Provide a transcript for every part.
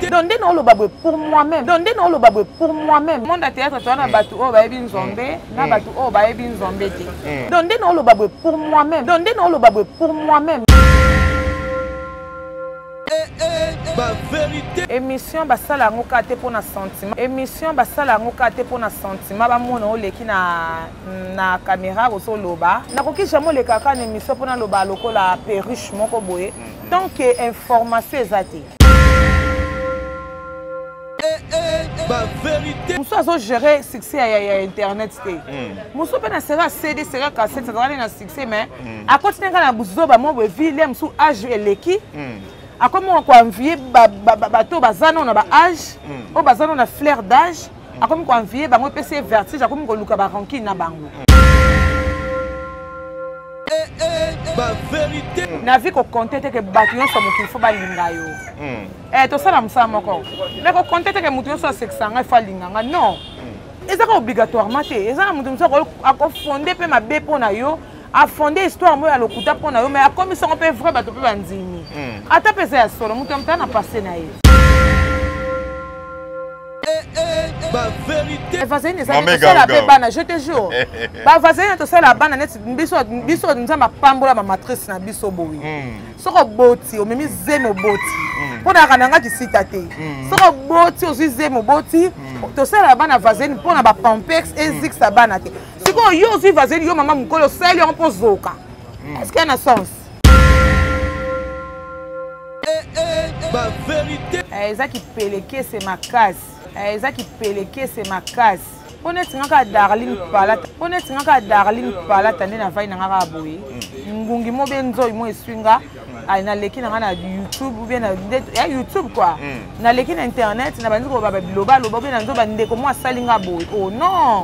donc nde naoloba boye pour moi-même donc nde naoloba boye pour moi-même monde ya théâtre toza na bato oyo bayebi nzambe mm. na mm. bato oyo bayebi nzambe te mm. donc nde naoloba boye pour moi-même donc nde naoloba boye pour moi-même émission basala yango kaka te mpo na sentiment émission basala yango kaka te mpo na sentiment bamona oleki na na camera ozo loba nakoki jamais oleka kaka na émission mpo naloba lokola perruche moko boye mm. tant que information eza te eh, eh, eh. mosusu azogere succès ya, ya internet te mm. mosusu mpe na sera cd sera cassette azalaki na succès mais mm. akoti na ngai na buzoba moko evile ya mosusu age eleki akomi koanvie bato baza nano na baage oyo baza nano na flair d'age akomi ko envie bango epesi ye vertige akomi koluka ba rancune na bango eh, eh, eh. na vie kokonte te ke bato nyonso mokili fo balinga yo hmm. tosala mosala moko me kokonte te ke moto nyonso asekisa ngai fo alinga ngai non hmm. ezaka obligatoirement te eza na moto mosusu akofonde mpe mabe mpo na yo afonde histoire moko ya lokuta mpo na yo mai akomisi yango mpe vrai bato mpe bandimi hmm. ata mpe eza ya solo moto ya motala na passe na ye bavaseline ezali tosala mpe bana je te jour bavaseline tosala bana neti biso nzambe apambola bamatrice na biso boye hmm. soki oboti omemi zemi oboti hmm. mpo nayaka na nga kisita te hmm. soki oboti ozwi zemi oboti tosala bana vaseline mpo na bapampex ezikisa bana te sikoyo yo ozwi vaseline yo mama mokolo osali yango mpo ozoka eske na sens Eh, eza kipelekese makasi eh, eza kipelekese makasi mpo neti nga kaka darling palata mpo neti nga kaka darling palata nde navai na nga kaka boye mm. ngungi mo be nzoi mo eswi nga mm. naleki na nga na youtube ubie ya youtube kua mm. naleki na internet na bandi koloba babilobaloba ubie na nzoba ndeko mo asali nga boye o oh, non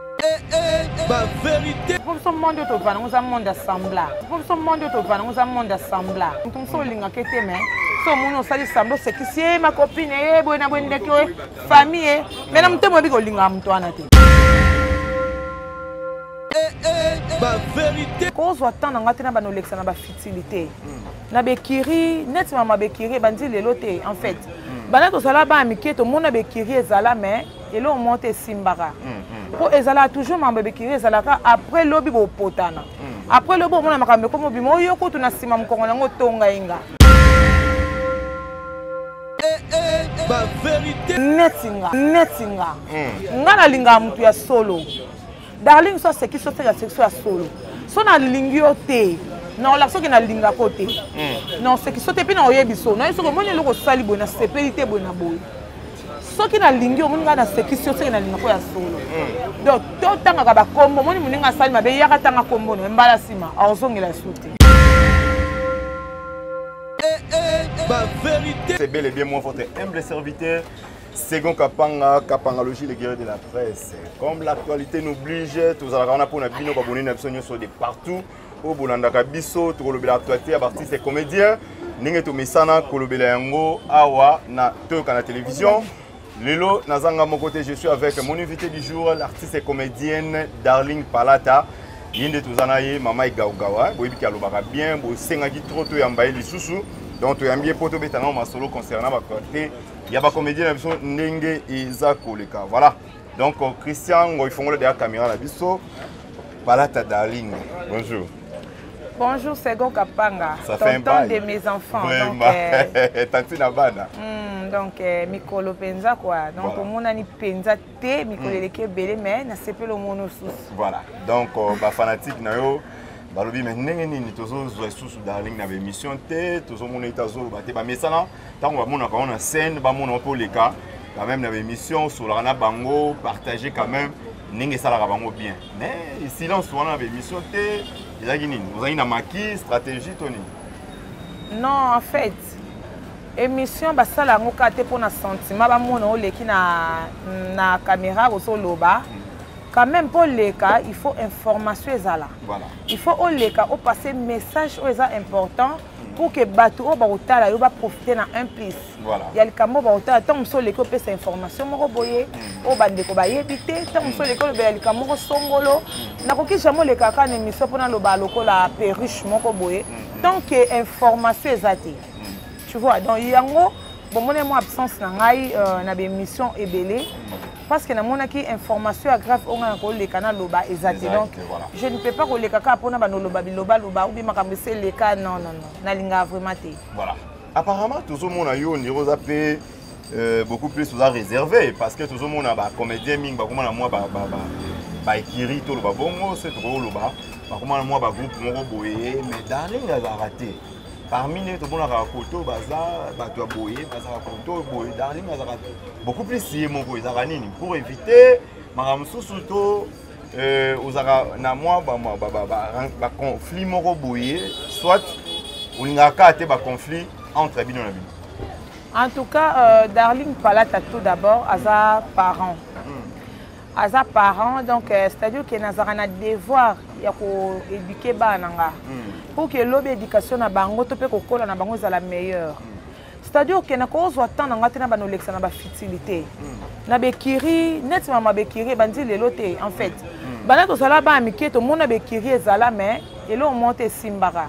ba verité mpo biso monde oyo tovanda ngo eza monde assembla mpo biso monde oyo tovanda ngo eza monde assembla moto mosusu olingaka ete me so omoni osali sambla osekisi ye makopine ye boye na boye ndeki oye famille ye me na motema oyebi kolingaka moto wana te kozwa temps na ngai te na bana olekisa na bafutilité na bekiri neti mama bekiri ebandi lelo te en fait bana tozala bana mike tomona bekiri ezala mais eloko moko te esimbaka mpo ezalaka toujours mambo ebekiri ezalaka après lobi bopotana hmm. après lobi omona makambo ekomi obima oyo kutu na nsima mokongo na yango otonga inga eh, eh, eh. neti nga neti nga hmm. nga nalingaka motu ya solo darling so asekisi oseka sekisi ya solo so nalingi yo te naola soki nalingaka yo te hmm. naosekisi yo te mpe naoyebi so naye soki omoni eloko osali boye nasepeli te boye na boye soki nalingi yo omoni ngai nasekisi yo soki nalingaka ya solo hmm. donc totangaka bakombo omoni moninga asali mabe yaka tanga kombo no mbala nsima aozongela ya su te eh, eh, eh. C'est bel et bien moi votre humble serviteur Second Kapanga, Kapangalogie, le guerrier de la presse. Comme l'actualité nous oblige, tous à la rana pour Nabino, Baboni, Nabison, Nyoso, de partout. Au Boulanda Kabiso, tout le l'actualité, à partir des comédiens. Ninge to misana, kolobela yango, awa, na, to, kana télévision. Lelo, nazanga mon côté, je suis avec mon invité du jour, l'artiste et comédienne Darling Palata. ye nde toza na ye mama egaugawa boyebi ke alobaka bien bosengaki trop toyamba ye lisusu donc toyambi ye mpo tobeta nao masolo concernant bacote ya ba comédien na biso ndenge eza koleka voilà donc euh, christian ngoi fongola deya caméra na biso palata darling bonjour bonjour sego kapanga Ça tonton de mes enfants Vraiment. donc euh... tantine abana mm, donc euh, mikolo mpenza quoi donc voilà. omonani mpenza te mikolo mm. eleki ebele mais nasepeli omona osusu voilà donc euh, bafanatique na yo balobi me ndenge nini tozozwa lisusu darling na baémission te tozomona ete azoloba te bamesana ntango bamonaka yango na scène bamona yo mpe oleka quand même na baémission osolaka na bango partage quand même ndenge esalaka bango bien mais silence wana na baémission te ezalaki nini ozalaki na maki stratégie to nini non en fait émission basala yango kaka te mpo na sentiment bamona oleki na, na caméra ozoloba mm. quand même mpo oleka il faut information ezala voilà. il faut oleka opasse message oyo eza important pour que bato oyo bakotala yo baprofite na un plus ya likambo oyo bakotala ntango mosusu oleki opesa information moko boye mm. oyo bandeko bayebi te ntango mosusu oleki olobela likambo moko songolo mm. nakoki jamai oleka kaka na émission mpo naloba lokola perruche moko boye mm. tant que information eza te tu vois donc yango bomoni mwa absence na ngai euh, na baémission ebele parce que namonaki information ya grave oyo ngai nakoleka naloba eza te donc je ne peux pas koleka kaka mpona banoloba bilobaloba obi makambo esi eleka non non non nalingaka vraiment te voilà apparemment tozomona yo ondire oza mpe euh, beaucoup plus oza réservé parce que tozomona bacomédien mingi bakoma na mwa baekiri toloba bongo se tokoki koloba bakoma na mwa bagroupe moko boye mais darling azalaka te parmi nde tomonaka koto baza bato ya boye bazaka koto boye darling azaka beaucoup plus ye moko ezaka nini pour éviter makambo mosusu to euh, ozaka na mwa baconflit moko boye soit olingaka kaka te baconflit entre bino na bino en tout cas euh, darling palata tout d'abord aza parent aza parent donc euh, c'est-à-dire que nazalaka na devoir ya koéduke bana na nga hmm. pour que lobi éducation na bango to mpe kokola na bango ezala meilleure hmm. c'est-à-dire que nakozwa temps na ngai te na bana olekisa na bafutilité hmm. na bekiri neti mama bekiri ebandi lelo te en fait banda tozala bana mike tomona bekiri ezala mais eloko moko te esimbaka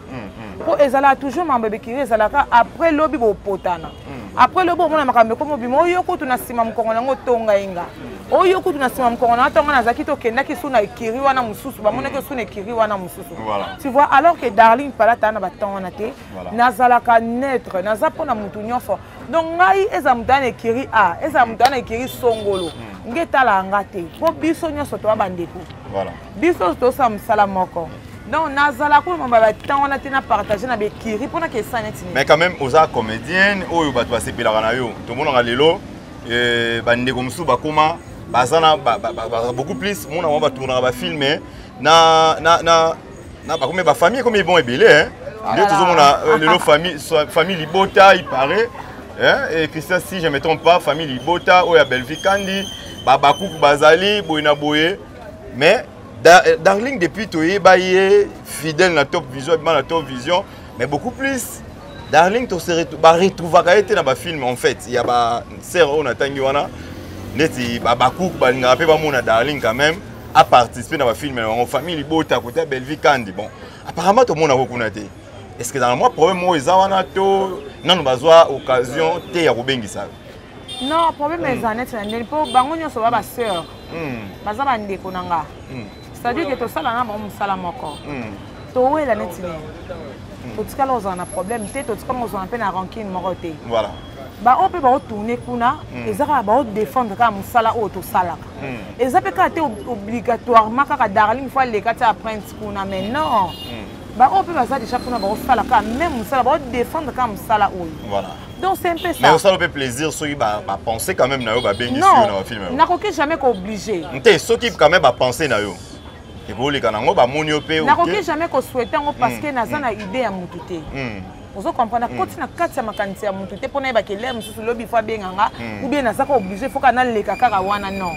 mpo mm, mm. ezalaka toujours mambo ebikiri ezalaka après lobi bopotana mm. après lobi omona makambo ekomi obima oyo kutu na nsima mokongo na yango otonga ye nga oyo kutu na nsima mokongo na nga ntongo nazalaki tokendaki su na ekiri wana mosusu bamonaki su na ekiri wana mosusu tu vois alors que darling palata na batemp wana te nazalaka neutre naza mpo na motu nyonso donc ngai ezala moto ya na ekiri a ezala moto ya na ekiri songolo nge etalaka nga te mpo biso nyonso toya bandeko biso tosala mosala moko donc nazala koloma batemp wana te na partage na bekiri mpo nakesa neti nini mais quand même oza comédienne oyo bato basepelaka na yo tomonaka lelo eh, bandeko mosusu bakoma baza na beaucoup plus mona bango batournaka bafilme na, na, na, na bakomi bafamille ekomi ebon ebele hein? Ah, nde tozomona euh, lelo famille, famille libota il paraît hein? et christian si je me trompe pas famille libota oyo ya bellevie kandi babakuku bazali boye na boye mais da, euh, darling depuis toyeba ye fidèle na top vision abima na top vision mais beaucoup plus darling baretrouvaka ye te na bafilme en fait ya basere oyo natangi wana neti babakouk balingaka mpe bamona darling quand même aparticipe na bafilme na bango famille libota kote ya bellevie kandi bon apparemment tomonako kuna te est ce que dans mwa problème oyo eza wana to nano bazwa occasion te ya kobengisa non problème hmm. eza neti na ndeni mpo bango nyonso ba basœur hmm. baza bandeko na nga hmm. c'est-à-dire ke tosala na bango mosala moko towela neti nini totikala kozala na problème te totikala kozala mpe na rancune moko te baoyo mpe baotourne kuna eza kaka baodefendre kaka mosala oyo tosalaka eza mpe kaka te obligatoirement kaka darling fo aleka ti aprince kuna mais non baoyo mpe baza deja kuna baosala kaka meme mosala baodefendre kaka mosala oyo donc c'est un peu ça mais osala mpe plaisir soki bapense quand même na yo babengisi yo na bafilme yango nakoki jamais kooblige te soki quand même bapense na yo ekoleka na yango bamoni yo mpe nakoki jamais kosouhaite yango parce que mm, naza mm. na idée ya motu te mm. ozo comprendre akoti na kati ya makanisi ya motu te mpo nayebaka elere mosusu lobi fo abenga nga oubien naza ko oblige fo kana leka kaka wana non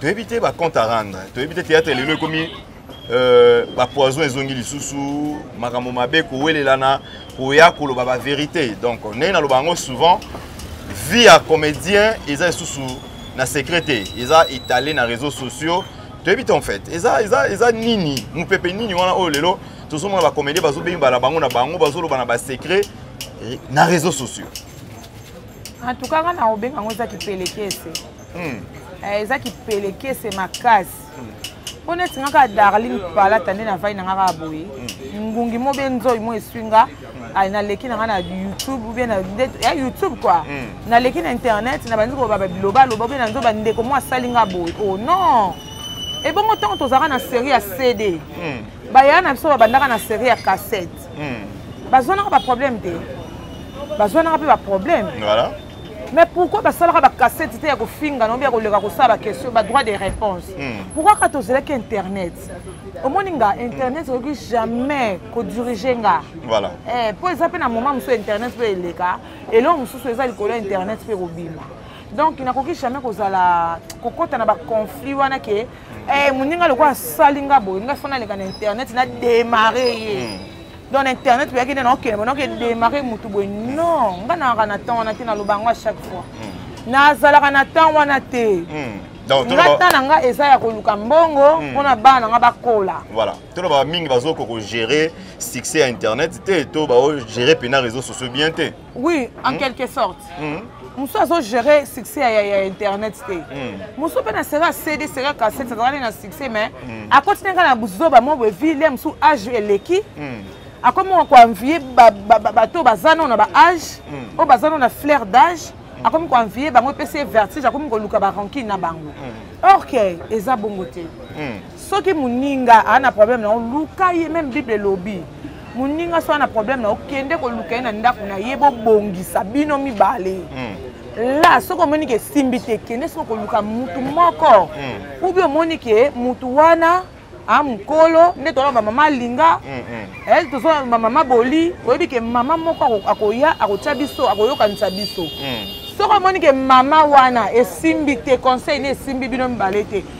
toyebi te ba compte à rendre toyebi te théâtre lelo ekomi euh, ba poison ezongi lisusu makambo mabe kowelelana koya koloba ba vérité donc ndenge naloba yango souvent vie ya comédien eza lisusu na secret te eza étalé na réseaux sociaux toyebi te en fait eza, eza, eza nini mopepe nini wana oyo lelo tozomona bacomédien bazobenga na bango na bango bazoloba na basecret eh, na réseaux sociaux en tout cas nga na obenga yango eza kipelekese hmm. eh, eza kipelekese makasi mpo neti nga kaka darling palata nde navai na nga kaka boye ngungi mo be nzoi mo eswi nga naleki na nga na youtube ou bien ya youtube kua hmm. naleki na internet na bandi koloba babilobaloba obe na nzo bandeko mo asali nga boye o oh, non ebongo ntango tozalaka na série ya cd hmm. bayaya na biso babandaka na série ya cassette hmm. bazwanaka baproblème te bazwanaka mpe baproblème mais pourquoi basalaka bacasete te ya kofinga na obi ya koleka kosala baquestion badroit de réponse hmm. pourquoi kaka tozelaki internet omoni nga internet hmm. okoki jamais kodirige nga mpo eh, eza mpe na moment mosusu internet mpe eleka eloko mosusu eza likolo ya internet mpe kobima donc nakoki jamais kozala kokɔta na baconflit wana ke hmm. eh, moninga lokola asali nga boye nga fo naleka na internet na démarre ye donc na internet boyaki nde naokende bo naoke démarre motu boye non ngai nalaka na temps wana te naloba yango à chaque fois hmm. nazalaka na temps wana te hmm. nga ntan na ngai eza ya koluka mbongo hmm. mpo na bana na ngai bakola voilà tolobaka mingi bazokoka kogere succès ya internet te to bagere mpena réseau sociaux bien te oui en hmm? quelque sorte hmm? mosusu azogere succès ya, ya internet te hmm. mosusu mpe na sera cd sera cassette azalaki na succès mais hmm. akoti nanga na buzoba mo boye ville ya mosusu age eleki hmm. akomi moko koenvie bato baza nao na baage hmm. oyo baza nao na flair d'age hmm. akomi koenvie bango epesi ye vertige akomi koluka barankine na bango hmm. or ke eza bongo te hmm. soki moninga aa na problème na yo luka ye meme bible elobi moninga soki na problème na yo kende koluka ye na ndako na ye bobongisa bino mibale mm. la soki omoni ke esimbi te kende soki koluka motu moko mm. ubi omoni ke motu wana a mokolo nde tolaba bamama alinga mm, mm. eh, tozolaba bamama boli oyebi ke mama moko akoya akotya biso akoyokanisa biso mm. soki omoni ke mama wana esimbi te conseil ne esimbi bino mibale te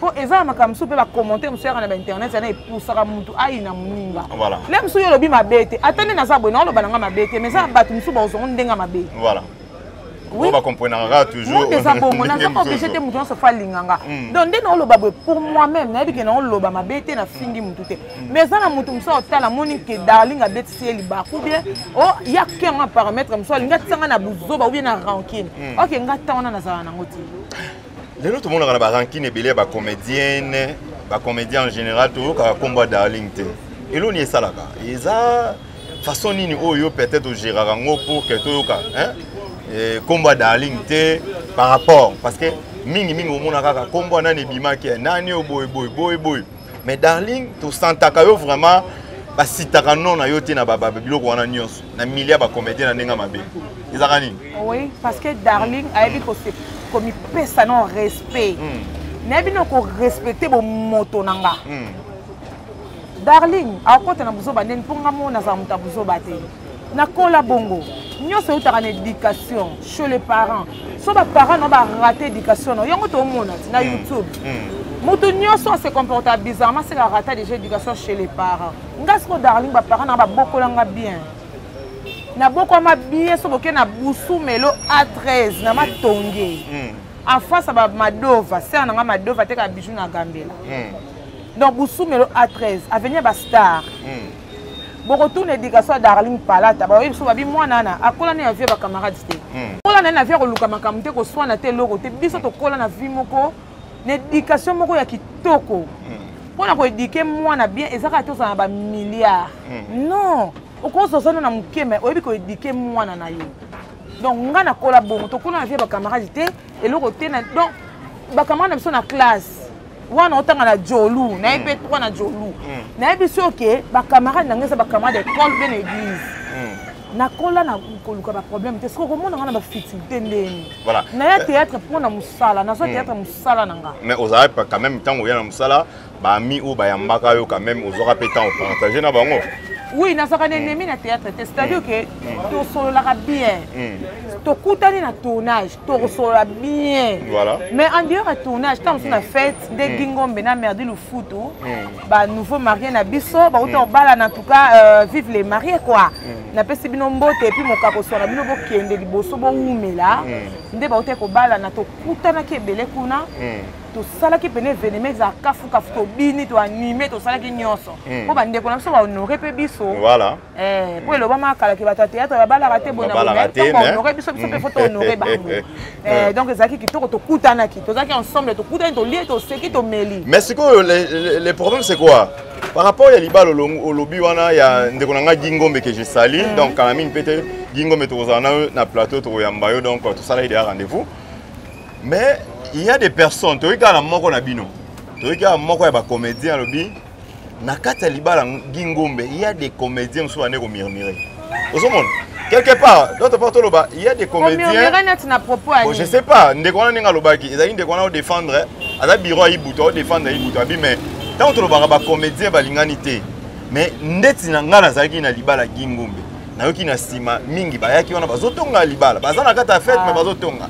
mpo eza na makambo mosusu mpe bacommentaire mosusu yaka na bainternet yana epusaka motu ayina moninga le mosusu yo olobi mabe te ata nde naza boye naoloba na ngai mabe te mais eza bato mosusu bakozongo ndenge mabe eza bongo naza oblige te moto nyonso fa alinga nga mm. donc nde naoloba boye pour moi même nayebi ke naoloba mabe te nafingi motu te mm. mais eza na moto mosusu aotala amoni ke darling abetisi ye libaku bien o oh, ya kengo ya parametre mosusu alingi atisanga na buzoba ou bien na rankine mm. ok nga ntango wana nazala nango ti lelo tomonaka na barankine ebele ya bacomédienne bacomédien en général toyokaka nkombo ya darling te elo nini esalaka eza façon nini oyo peut-être ogéraka yango pour que toyoka nkombo ya darling te par rapport parce que mingi mingi omona kaka nkombo ya nani ebimaki ya nani oyo boye boye boye boye mais darling tosantaka yo vraiment basitaka non na yo te na biloko wana nyonso na milia bacomédien na ndenge mabe ezalaka nini oui parce que darling ayebi komipesa na respect hmm. nayebi na korespecte bomoto na nga hmm. darling akota na buzoba ndeni mpo nga mo nazala moto ya buzoba te nakola bongo nyonso eutaka na éducation chez les parents so baparent na barate éducation na yango tomona ti na hmm. youtube hmm. moto nyonso ase comporta bizarrement seke arata déjà éducation chez les parents nga siko darling baparent na babokolanga bien nabokwama bien so boke na busu melo a 13 na matonge hmm. en face ya bamadova ser na nga madova ateka bijou na gambela donc busumelo a 13 avenir bastar mm. bokotuna edikation ya darling palata baoyebi biso babi mwana ana akola na vie ya bacamarade te hmm. kola na ye na vie ya koluka makambo te koswana te eloko te biso tokola na vie moko na edikation moko ya kitoko hmm. mpo na koedike mwana bien eza kaka tozala na bamilliard hmm. non okoki ozana na moke mai oyebi koedike mwana na yo donc ngai nakola bongo tokola na vie ya bacamarade te eloko te donc bacamarade na biso na classe wana otanga na jolu naye mpe trois na jolu nayebi soki oke bacamarade na ngai eza bacamarade ya école mpe na église nakola na koluka baproblème te soki okomona ngai na bafitilité ndeni naya théâtre mpo na mosala nazwa hmm. théâtre mosala na ngai mais ozalaki quand même ntango oya na mosala baami oyo bayambaka yo quand même ozwaka mpe ntango partage na bango oui nazwaka na hmm. ennemi na théâtre te c'est-à-dire hmm. ke tosololaka bien tokutani na tournage tokosolola bien voilà. mais en dehors ya tournage ntango mosusu na fête nde mm. gingombe na merdi lufutu mm. banouveau marie na biso bauta kobala mm. na tout cas euh, vive les marie quoi napesi bino mbote epuis mokakoswana bino bokende liboso bowumela nde bauta kobalana tokutanaki ebele kuna tosalaki pene evenema ezala kafukafu tobini toanime tosalaki nyonso mpo bandeko na biso bahonore mpe biso voilà. Eh, po elobama kala ke bato ya théâtre babalaka te bonaonore biso biso mpe fo tohonore bango eh, donc ezalaki kitoko tokutanaki tozalaki ensemble tokutani tolie toseki tomeli mais sikoyo le problème c'est quoi par rapport ya libala olobi wana ya ndeko na ngai gingombe ke je sali mm. donc kala mingi mpe te gingombe tokozala na yo na plateau tokoyamba yo donc tosala ye deya rendez-vous mais il y a des personnes toyei kaka na moko na bino toyei kaka moko ya bacomédien alobi na kati ya libala gi ngombe il y a des comédiens mosusu bande komurmure ozomona quelque part d'autre part toloba il y a des comédiens bon, je sais pas ndeko wana ndenge alobaki ezali ndeko wana odefendre aza bureau ya ibutu aodefendre ya ibutu abi mais ntango tolobaka bacomédien balingani te mais ndeti na ngai nazalaki na libala gi ngombe nayoki na nsima mingi bayaki wana bazotonga libala baza na kati ya fete ah. mais bazotonga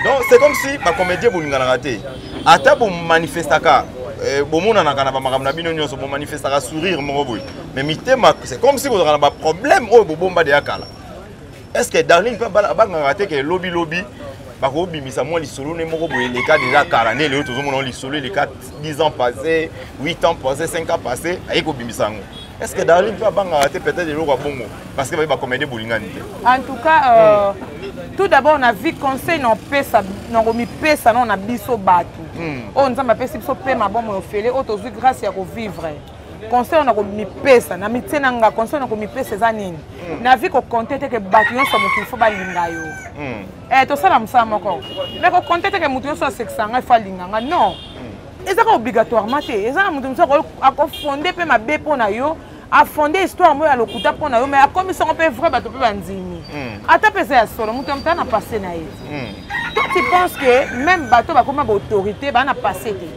donc c'est comme si bacomédien bolinganaka te ata bomanifestaka eh, bomonanaka na bamakambo na bino nyonso bomanifestaka sourire moko boye mais mitema c'est comme si bozalaka na baproblème oyo bobomba deya kala est ce que darling mpe abangaka te ke lobilobi bakobimisa mwa lisolo ne moko boye eleka deja kala nde lelo tozomona lisolo eleka 10 ans passé 8 ans passé 5 ans passé aye kobimisa yango est ce que darling mpe abangaka te peut-être eloko ya bongo parce que baye bakomede bolingani te en tout cas euh, mm. tout d'abord na vie conseil naopesa nakomipesa nao na biso bato mm. oyo oh, nzambe apesi biso mpe mabomo ya ofele oyo oh, tozwi grâce ya kovivre conseil na komipesa na mitie na nga conseil na komipesa eza nini mm. na vie kokonte te ke bato nyonso mokili fo balinga yo mm. eh, tosala mosala moko me kokonte te ke moto nyonso asekisa ngai fo alinga ngai non mm. eza ka obligatoirement te eza na moto mosusu akofonde mpe mabe mpo na yo afonde histoire moko ya lokuta mpo na yo mai akomisi yango mpe vrai bato mpe bandimi hmm. ata mpe eza ya solo moto ya moto ana passe na ye hmm. to tu pense que même bato bakoma baautorité baa na passe te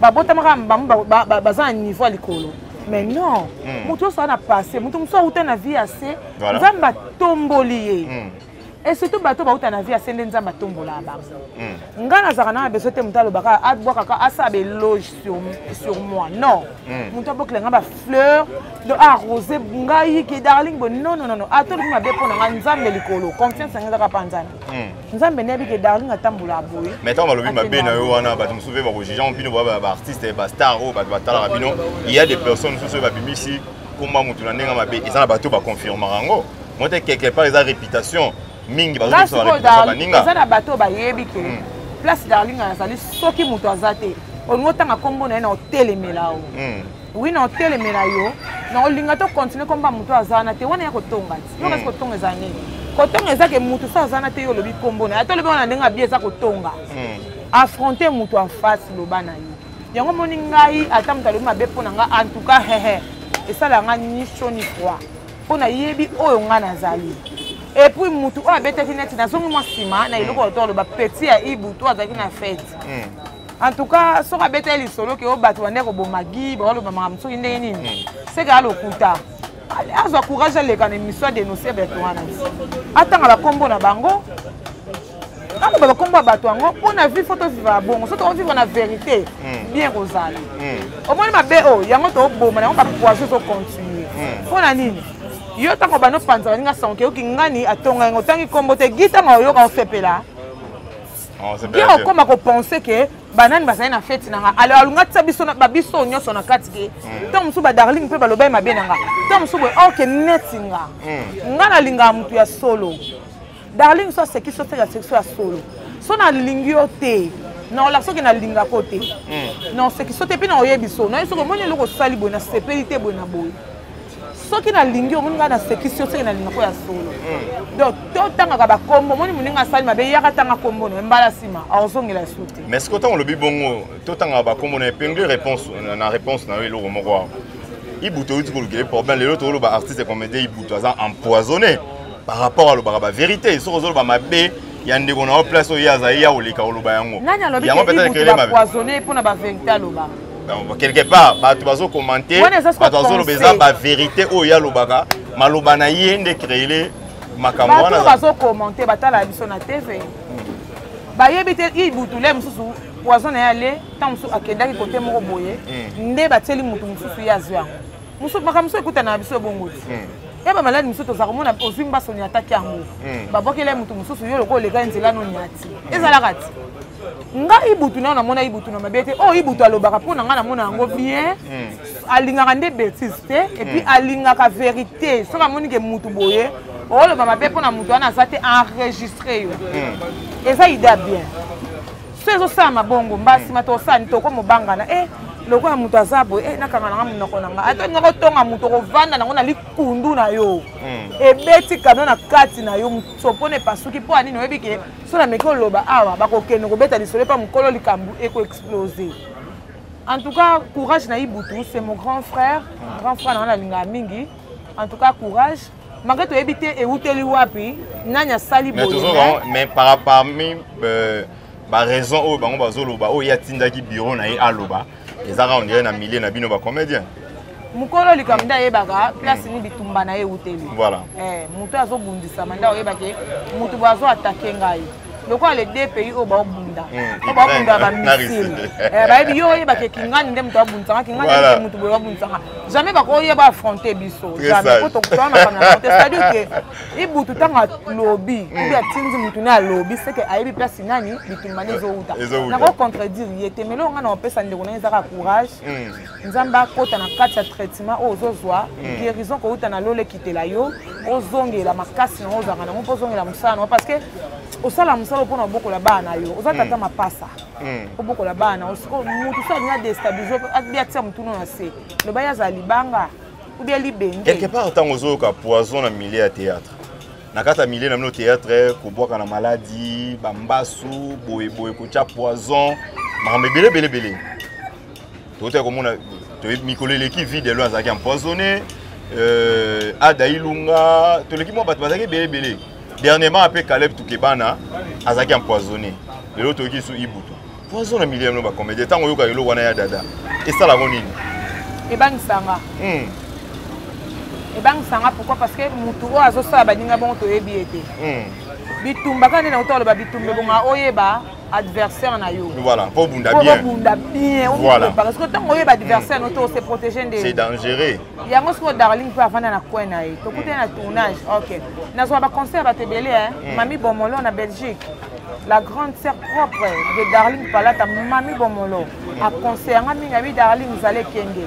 babotamaka bango baza na niveau ya likolo mais non hmm. moto nyonso aa na passe moto mosusu auta na vie ya se nzambe atomboli ye et surtout bato bauta na vie ase nde nzambe atombolaka bango hmm. ngai nazalaka nanga beso te moto alobaka abwakaka ah, asala beloge sur, sur moi non hmm. moto abokela ngai bafleur do arrose ah, ngai ke darling bo non non non ata ah, olobi mabe mpo na ngai nzambe likolo confiance yango ezaka mpa nzambe hmm. nzambe nayebi ke darling atambolaka boye mais ntango balobi mabe na yo wana bato mosusu mpe bakojugea bino baartiste bastar oyo oh, bato batalaka bino il y a des personnes mosusu oyo babimisi komba moto na ndenge mabe eza na bato baconfirmaka yango Moi te quelque part eza reputation mingi bazo biso ba reputation ba ninga. Eza na bato ba yebi ke hmm. place darling azali soki moto aza te. Olingi otanga kombo na ye na otelemela o. Hmm. Oui na otelemela yo na olinga to continuer komba moto aza wana te wana ya kotonga ti. Yo kasi hmm. kotonga eza nini? Kotonga eza ke moto so aza wana te yo olobi kombo na ye. Ata olobi wana ndenge abi eza kotonga. Affronter moto en face loba na yo. yango omoni ngai ata moto alobi mabe mpo na ngai en tout cas hehe esalaka ngai ni chaud ni froid mpo nayebi oyo ngai nazali epuis motu oyo abetaki neti nazongi mwa nsima na eloko oyo toloba peti ya ibu to azalaki na fete hmm. en tout cas soki abetaki lisolo ke oyo bato bande koboma gi baoloba makambo soki ndenge nini hmm. seke alokuta azwa courage aleka na émission ya dénoncer bato wana atanga bakombo na bango akoloba bakombo ya bato yango mpo na vie fo tovivaka bongo so tokovivre na verité hmm. bien kozala hmm. omoni mabe oyo oh, yango toboma na yango bapoison ezocontinue hmm. mpo na nini yo ntango bano opanzaka ninga sanke oyoki ngani atonga yango otangi nkombo te gi ntango oyoka osepela ye oh, okoma kopense ke banani bazali na feti na nga alo alunga tia biso babiso nyonso na kati ke ntango mosusu badarling mpe balobaki mabe na nga ntango mosusu boye oke oh, neti nga nga nalingaka motu ya solo darling so asekisi oseka sekisi ya solo so nalingi yo te naola soki nalingaka yo te hmm. naosekisi yo te mpe naoyebi so naye soki omoni eloko osali boye nasepeli te boye na boye soki nalingi yo omoni ngai nasekisi yo soki nalingaka ya solo hmm. donc totangaka bakombo omoni moninga asali mabe yaka tanga kombo na mbala nsima aozongela ya su te mais soki ntango olobi bongo totangaka bakombo na epingle réponse na réponse na yo eloko moko awa ibutu outi kolukela ye problème lelo tokoloba artiste comédien ibutu aza empoisonné par rapport alobaka ba verite soki ozoloba mabe ya ndeko na yo place oyo ye azali ya koleka oloba yango nani alobi kepoisonne mpo na baverité aloba quelque part bato bazokomante bato bazoloba eza baverité oyo ye alobaka maloba na ye nde créele makambo wana bazokomante batala biso na tv bayebi te ibutule mosusu poison na ye ale ntango mosusu akendaki kote moko boye hmm. nde batieli moto mosusu ye azwi yango makambo mosusu ekutana na biso ebongo ti hmm. ya bamaladi mosusu tozala komona ozwi mba soni ataki yango hmm. babwakela ye moto mosusu yo lokola oleka ye nzela noni ati hmm. ezalaka ti nga ibutu nayo namona ibutu na mabe te oyo oh, ibutu alobaka mpo na ngai namona yango bien alingaka nde betise te epuis alingaka verité soki amoni ke motu boye oloba mabe mpo na motu wana aza te enregistre yo eza idea bien so ezosalama bongo mbala nsima tosani toko mobangana e eh, lokola moto aza boye e eh, nakanga nanga monoko na nga ata olinga kotonga moto okovanda nango na likundu na yo hmm. ebeti kano na kati na yo sopona epasuki mpo anini oyebi ke so nameki oloba awa bakokende kobeta lisolo epa mokolo likambo ekoexplose en tout cas courage na ibutu c'est mon grand frère hmm. grand frère nanga nalingaka mingi en tout cas courage malgré toyebi te ewuteli wapi nani asali boyemais parmi euh, baraison oyo bango bazoloba oyo ye atindaki biro na ye aloba ezaka ondire na milieu na bino bacomédien mokolo likambo nde ayebaka place ni bitumba na ye ewuteli voilà eh, moto azobundisama nde oyebake moto boye azo atake ngai lokola le deux pays oyo baobunda hmm, oyo baobunda bamisile eh, bayebi yo oyebake kingani nde moto abundisanga kingani nde moto boye babundisanga jamais bakoya baaffronte biso jamais po tokutana makambo na te c'est-à-dire ke ibutu ntango alobi hmm. obi atindi motu ne alobi seke ayebi place nani bitumba nde ezowuta nakocontredire ye te melo nga na opesa ndeko na ye ezaka courage hmm. nzambe akota na kati ya traitement oyo ozozwa mm. guérison kouta na lola ekitela yo ozongela makasi nango ozalaka nango mpo ozongela mosala nango parce que osala mosala mpona obokola bana na yo oza tata mm. mapasa mm. obokola bana na yo sikoyo motu so alingi adestabilize abi atia motuna na se loba ye azala libanga ubia libenge quelque part ntango ozoyoka poison na milieu ya théâtre na kati ya milieu na bino théâtre kobwaka na maladi bambasu boyeboye kotya poison makambo ebele ebele ebele toyota komona mikolo eleki vide elo azalaki empoisonné euh, ada ilunga toleki mwa bato bazalaki ebele ebele dernièrement ape caleb tukebana azalaki empoisonné lelo toyoki su ibutu poison na milieu yango bacomédien ntango oyoka eloko wana ya dada esalako nini ebangisanga hmm. ebangisanga pourquoi parce que motu oyo azosala baninga bongo toyebi ye te hmm. bitumba kaka nde na kotoloba bitumba ebonga oyeba adversaire na yo voilà po bunda bien po bunda bien voilà parce que tant oyeba adversaire mm. no to se protéger nde c'est dangereux yango siko darling pe avanda na coin na ye tokuti na tournage OK nazwa ba concert ba tebele hein mm. mami bomolo na Belgique la grande sœur propre de Darling Palata mami bomolo a concert nga mingi abi Darling zale kenge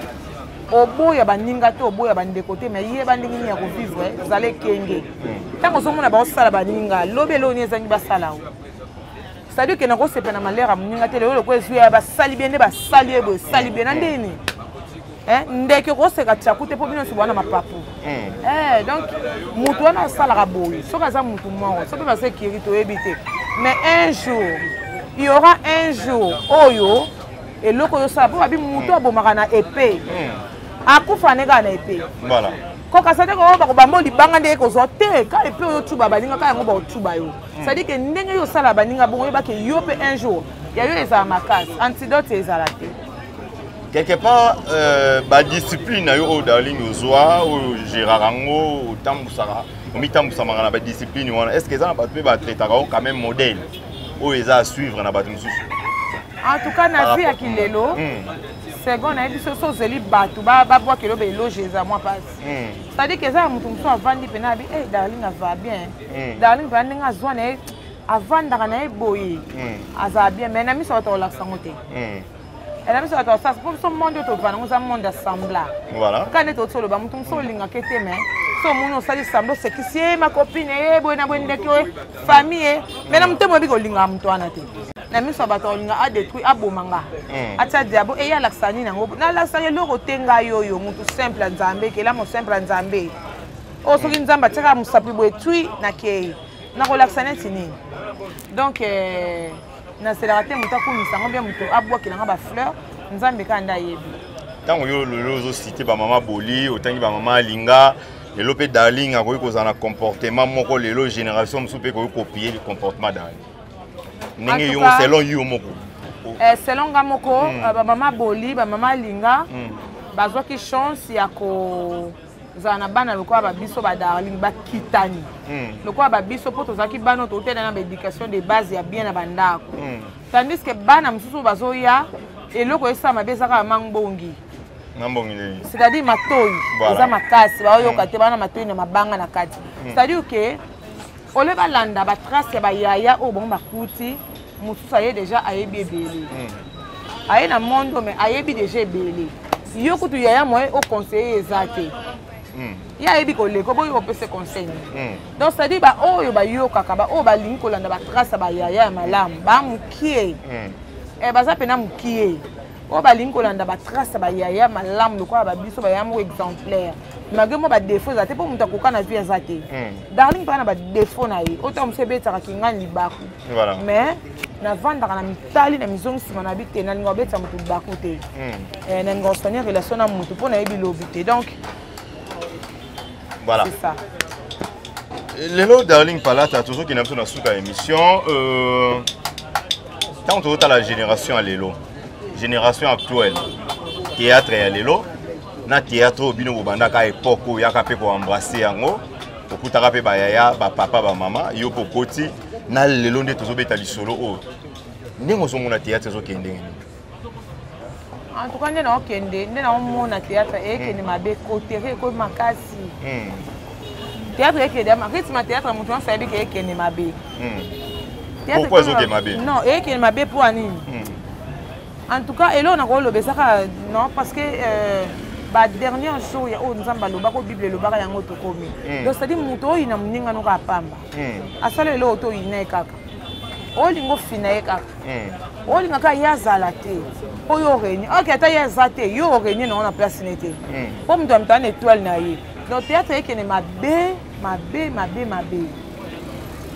oboya baninga te oboya bandeko te mai yeba ndenge nini ya kovivre zala ekenge ntango ozomona baosala baninga lobi eloo nini ezangi basala o cestadire ke nakosepa na malere ya moninga te lelo lokola ezwi ya basali bie nde basali ye boye esali bie na ndeni eh, ndeke okoseka tiaku te mpo bino nyonso bwana mapapu hmm. eh, donc motu wana asalaka boye soki aza motu moko soki baza ekiri toyebi te mais un jour il y aura un jour oyo eloko oyo osala mpo babi motu hmm. abomaka na epe hmm. akufa ne kaka na epe kokasa te koo bako bango libanga nde ekozwa te ka epe oyo otuba baninga ka yango baotuba yo hmm. cestadire ke ndenge yo osala baninga bongo oyeba ke yo mpe un jour ya yo ezala makasi antidote ezala te quelque part euh, badiscipline na yo oyo darling ozwa oyo gerara yango otambusaka omitambusamaka na badiscipline wana est ce que eza na bato mpe batretaka yo quand même modèle oyo eza à suivre na bato mosusu en tout cas na vie ya kilelo hmm. second nayebi soki ozeli bato babwaka eloba eloge eza mwa mpasi hmm. cetadire ke eza ya moto mosusu avandi mpena abi e eh, darling ava bien hmm. darling mpena ndenge azwa na ye avandaka na ye boye hmm. azala bien mai na miso bato kolakisa yango te na biso bato basasa mpo biso monde oyo tovanda yango eza monde ya sembla kaka nde toti oloba moto mosusu olingaka te mai so omoni osali sembla osekisi ye makopine ye boye na boye ndeki oye famille ye mai na motema oyebi kolingaka moto wana te na miso ya bato akolinga adetruire aboma nga hmm. atya diabo eye alakisa nini yango nalakisaka eloko te ngai oyo motu simple ya nzambe kelamo simple ya nzambe oyo soki hmm. nzambe atyaka mosapi boye twi nakei nakolakisa neti nini donc eh, naselaka te moto akumisa yango mpe moto abwakela nga bafleur nzambe kaka nde ayebi ntango yo lelo ozosite bamama boli otangi bamama alinga lelo mpe darling akoki kozala na comportement moko lelo génération mosusu mpe ekoki kopie comportement darling ndenge yo selon yo moko eh, selon nga moko mm. Eh, bamama boli bamama alinga mm. bazwaki chance ya ko ozala na bana lokola babiso badarling bakitani hmm. lokola babiso mpo tozalaki bana totela na baéducation de base ya bien na bandako hmm. tandis ke bana mosusu bazoya eloko esala mabe ezaka ya mangbongi c'est-à-dire matoi eza makasi baoyoka hmm. te bana matoi na mabanga na kati c'est-à-dire ke ole balanda batrace ya bayaya oyo bango bakuti mosusu aye deja ayebi ebele hmm. aye na mondo me ayebi deja ebele yo kutu yaya moye oconseille eza te hmm. ye ayebi koleka oboyi opese conseil hmm. donc cetadire baoyo bayokaka baoyo balingi kolanda batrace ya bayaya ya malamu bamokie eh, baza mpena mokie oyo balingi kolanda batrace ya bayaya malamu lokola babiso bayaya moko exemplaire malgré mwa badefaut eza te mpo moto akoka na vie aza te hmm. darling mpaka na badefaut na ye otango mosu ebetaka kingani libaku mais navandaka na mitali na mizongi nsima na bi te nalinga kobetisa moto libaku te hmm. eh, nalinga kosani relation na moto mpo nayebi lobi te donc voilà c'est ça lelo darling palata tozokenda biso na suka ya émission euh... ntango tozotala génération ya lelo génération actuelle théâtre ya lelo na théâtre oyo bino bobandaka époque oyo yaka mpe koembrasse yango okutaka mpe bayaya bapapa bamama yo mpe okoti na lelo nde tozobeta lisolo oyo ndenge ozomona théâtre ezokende ndenge nini en tout cas nde naokende nde naomona théâtre ekende hmm. mabe kotere ekomi makasi hmm. théâtre ekende rythme ya théâtre moto nyonso ayebi ke ekende mabe pourquoi ezokende mabe non ekende mabe mpo ya nini en tout cas eloko nakoloba eza kaka non parce que euh, badernier jour ya oyo nzambe alobaka oyo bible elobaka yango tokomi donc cetadi moto oyina moninga noka apamba asala eloko toyina ye kaka olinga ofina ye kaka hmm. olinga kaka ye azala te mpo yo orenie oke ata ye aza te yo orenie nango na place ne te hmm. mpo moto ya mitala na étoile na ye donc théâtre ekende mabe mabe mabe mabe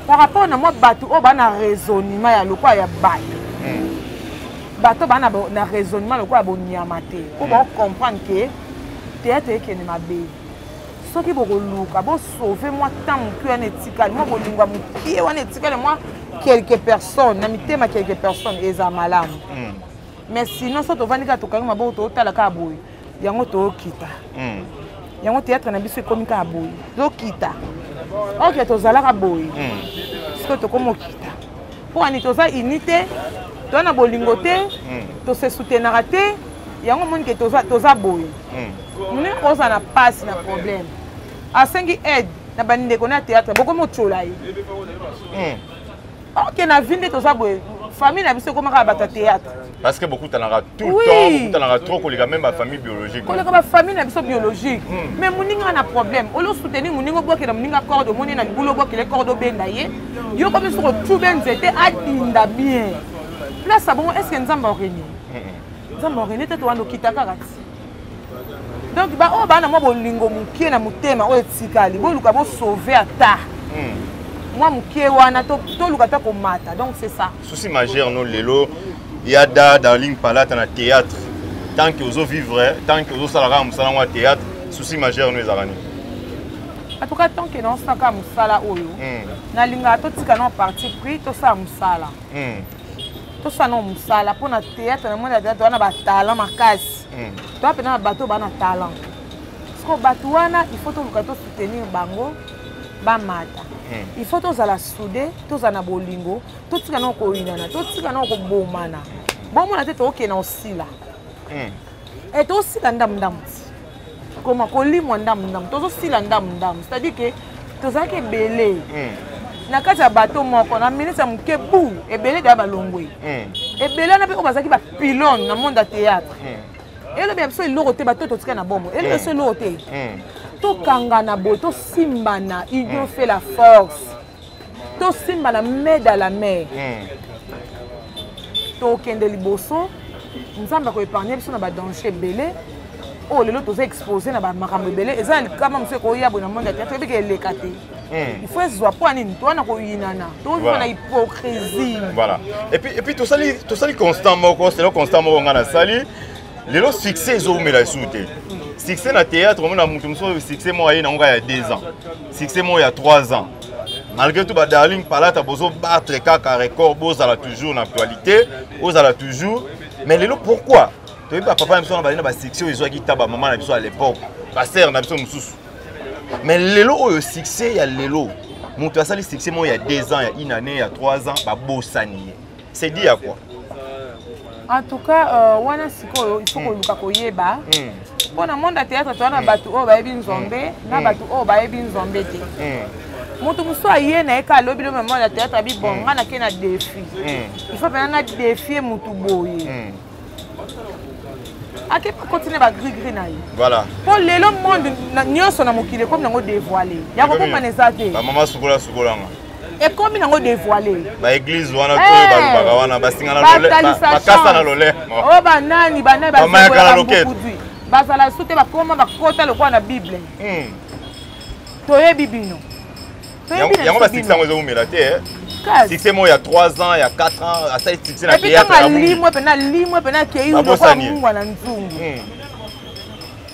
par rapport na mwa bato oyo baa na raisonnement ya lokola ya bato hmm. bato baa na raisonnement lokola bonyama te mpo baocomprendre ke théâtre ekende mabe soki bokoluka bosauve mwa temps moke wana etikali mwa bolingo ya mokie wana etikali mwa quelques personnes na mitema quelques personnes eza malamu hmm. mais sinon so tovandi kaka tokangi maboko totala kaka boye yango tokita hmm. yango théâtre na biso ekomi kaka boye tokita oke tozalaka boye hmm. sikoyo tokomi okita mpo ani toza uni te toza na bolingo te tosesoutenaka te yango omoni ke toza boye ndenge oza na pasi na problème asengi aide na bandeko na théâtre bokomi otyola ye hmm. ok na vi nde toza boye famille na biso ekomaka bato ya théâtre parce que bokutanaka tout le temps bokutanaka trop koleka même bafamille biologique koleka bafamille na biso biologique hmm. mais moninga na problème olo soutenir moninga obwakela moninga corde omoni na libulu obwakele corde obenda ye yo komi soko tube nzete adinda bien place abongo est ce que nzambe aurenie nzambe wa rene tete wana okita kaka ti donc baoyo oh, baa na mwa bolingo moke na motema oyo etikali boluka bosauve ata hmm. mwa moke wana toluka ata komata donc c'est ça souci majeur no lelo ya da darling palata na théâtre tant que ozo vivre tant que ozosala kaka mosala yango ya théâtre souci majeur no ezalaka nini en tout cas tant que naosala kaka mosala oyo hmm. nalingaka totika na parti pris tosala mosala hmm. tosala nao mosala mpo na théâtre na moni ya théâtre wana batalent makasi hmm. toa mpena na bato baa na talent siko bato wana il faut toluka tosoutenir bango bamata hmm. il faut tozala soude tozala na bolingo totika nao koyinana totika nao kobomana bomona te tookende na osila hmm. e eh, tosila ndamundambu koma kolimwa ndambu ndambu tozosila ndambu ndambu c'est-à-dire ke tozalaki ebele hmm. na kati ya bato moko na minute ya moke bu ebele daya balongwe hmm. ebele wana mpe oyo bazalaki bapilone na monde ya théâtre hmm. elobi ya biso eloko te bato totika na bomo elobi biso eloko te tokangana boye tosimbana union fait la force tosimba na mede à la mer hmm. tokende liboso nzambe akoepargne biso na badanger ebele oyo oh, lelo toza expose na bamakambo ebele eza na likama mosusu ekoya boye na monde ya teatre ebiki eleka te hmm. ifo ezwa mpo ya nini towana koyinana tokoyina na hypocrisie voilà epuis tosali constant moko selo constant moko ngai nasali lelo succès ezowumela lisusu te succès na théâtre omona moto mosusu succès moko aye nango kaka ya 2 ans succès moko ya 3 ans malgré tout badarling palata bozobattre kaka record bozala toujours na actualité ozala toujours mais lelo pourquoi toyebi bapapa na biso wana balina basuccès oyo ezwaki ta bamama na biso ya l'époque basere na biso mosusu mais lelo oyo succès ya lelo moto asali succès moko ya 2 ans ya une année ya 3 ans babosani ye c'est dit à quoi en tout cas euh, wana sikoyo il faut hmm. koluka koyeba hmm. mpo na monde ya théâtre toza na bato oyo bayebi nzombe na bato oyo bayebi nzombe te moto mosusu aye na ye ka alobi lo mama ya théâtre abi bon nga nake na défi il faut mpena na défie motu boye ake continue ba gris gris na ye voilà mpo lelo monde nyonso na mokili ekomi nango dévoile ya kokokana eza te bamama sukola sukolanga ekomi nango dévoile baeglise wana oyo eh! balobaka wana basinganakasa na lolemo o oh, banani banani bamayakala loketo bazala su te bakoma bakota lokola na bible hmm. toyebi bino yango basukisa yango ezowumela te eh. succès moko ya 3 ans ya 4 ans asali succès na teatrelimwe mpena limwe mpena akei lokola mungwa na nzungu hmm.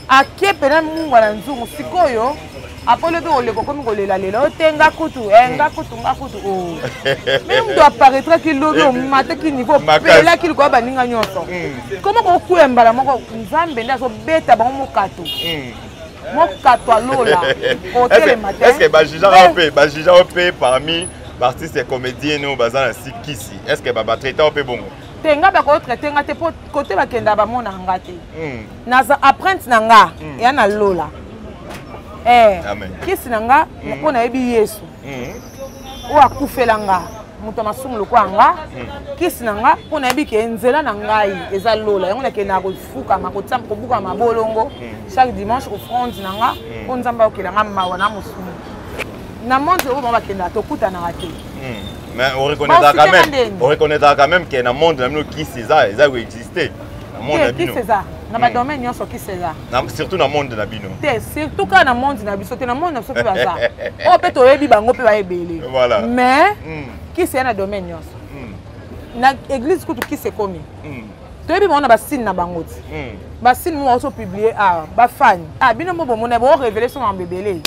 ake mpena mungwa na nzungu sikoyo apolo mpe koleka okomi kolela lelo te nga kutu e eh, nga kutu nga kutu o oh. meme moto aparaîtraki lobi eh, omataki niveau pelaki likoya baninga nyonso koma hmm. kokwea mbala moko nzambe nde azobeta bango mokato hmm. mokatwa lola otelema te est ce que ba jugeant eh. pe ba jugeant pe parmi baartiste ya comédien oyo baza na sikisi est ce que babatraite ao mpe bongo te nga bakotraite nga te mpo kote bakenda bamona nga te hmm. naza apprente na nga hmm. ya na lola eh, kisi na nga mpo hmm. nayebi yesu oyo akufela nga moto ya masumu lokola nga hmm. kisi na nga mpo nayebi ke nzela na ngai eza lola yango nakendaka kofukama kobuka mabolongo hmm. chaque dimanche offrande na nga hmm. mpo nzambe ayokela nga mawa na mosumu na monde oyo bango bakendaka tokutanaka te mais oreconnaîtra quand même oreconnaîtra quand même ke na monde na bino kisi eza eza koexiste na monde na bino kisi eza na badomaine nyonso kisi eza surtout na monde na bino te surtout kaka na monde na biso te na monde na biso mpe baza oyo mpe toyebi bango mpe bayebele mais hmm. kisi ya na domaine nyonso hmm. na église kutu kisi ekomi hmm. toyebi bango na basine na bango ti basine moko oso publie awa bafani a bino mpo bomona boorevele so mambo ebele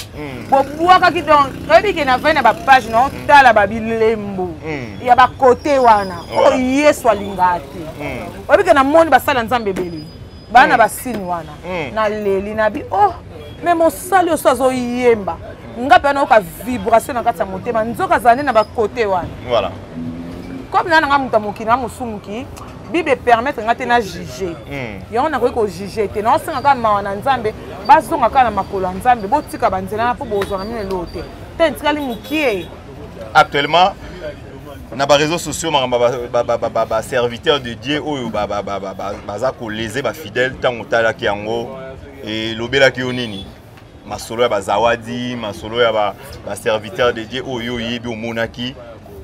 bobwakaki donc oyebi ke na vai na bapage na otala babilembo ya bakote wana oyo yesu alingaka te oyebi ke na moni basala nzambe ebele bana basini wana naleli na bi oh me mosali oso azoyemba nga mpe anayoka vibration na kati ya motema nzoka azala nde na bakote wana voilà comme naa nanga moto ya mokili na mosumuki bible epermettre nga te na juge hmm. yango nakoki kojuge te naosenga kaka mawa na nzambe bazonga kaka na makolo ya nzambe botika banzela na mpo bozwa na mino eloo te te etikali mokie actuellement na bareseau sociaux makambo baserviteur de dieu oyo baza kolese bafidèle ntango otalaki yango elobelaki yo nini masolo ya bazawadi masolo ya baserviteur de dieu oyo yo oyebi omonaki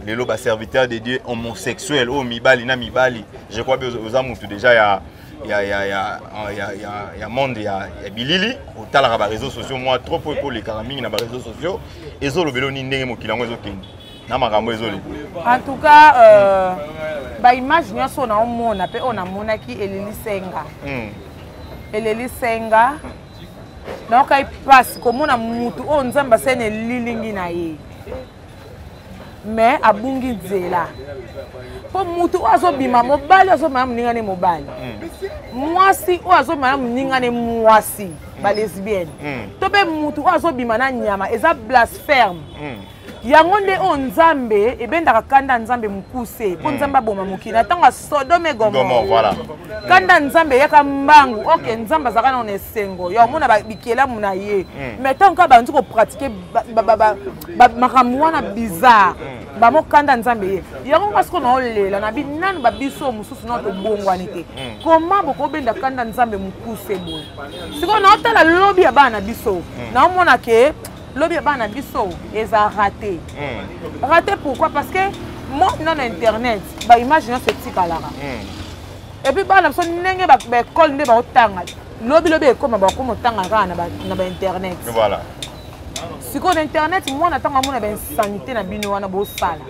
lelo baserviteur de dieu homosexuel oyo mibali na mibali je crois oza motu déjà ya ya, ya, ya, ya, ya, ya monde ya, ya bilili otalaka bareseau sociaux mwa trop oyo ekolekaka mingi na bareseau sociaux ezolobela nini ndenge mokili yango ezokende na makambo ezoli en tout cas euh, baimage nyonso oyo naomona mpe oyo namonaki elelisenga hmm. elelisenga nayokai mpasi komona motu oyo nzambe asali na elilingi na ye mais abungi nzela mpo motu oyo azobima mobali azobima na moninga ne mobali hmm. mwasi oyo azobima na moninga ne mwasi balesbienne hmm. to mpe motu oyo azobima na nyama eza blasphème yango nde oyo nzambe ebendaka kanda ya nzambe mokuse mpo hmm. nzambe aboma mokili na ntango ya sodome gomora kanda ya nzambe eyaka mbangu oke nzambe azalaka nao na esengo ya omona bikelamu na ye hmm. mai ntango kaka bandi kopratike makambo wana bizarre hmm. bamo kanda ya nzambe ye yango nga sikoyo naolela na binanu babiso mosusu nao tobongwani te koma bokobenda kanda ya nzambe mokuse boye sikoyo naotala lobi ya bana na biso naomona ke lobi ya bana biso eza rate hmm. rate pourquoi parce que monde na na internet baimage nyonso etikalaka hmm. epuis bana biso ndenge baekole nde baotanga lobilobi ekoma bakoma otanga kaka na bainternet sikoyo na internet mwana ntango amona bainsanité na bino wana bosala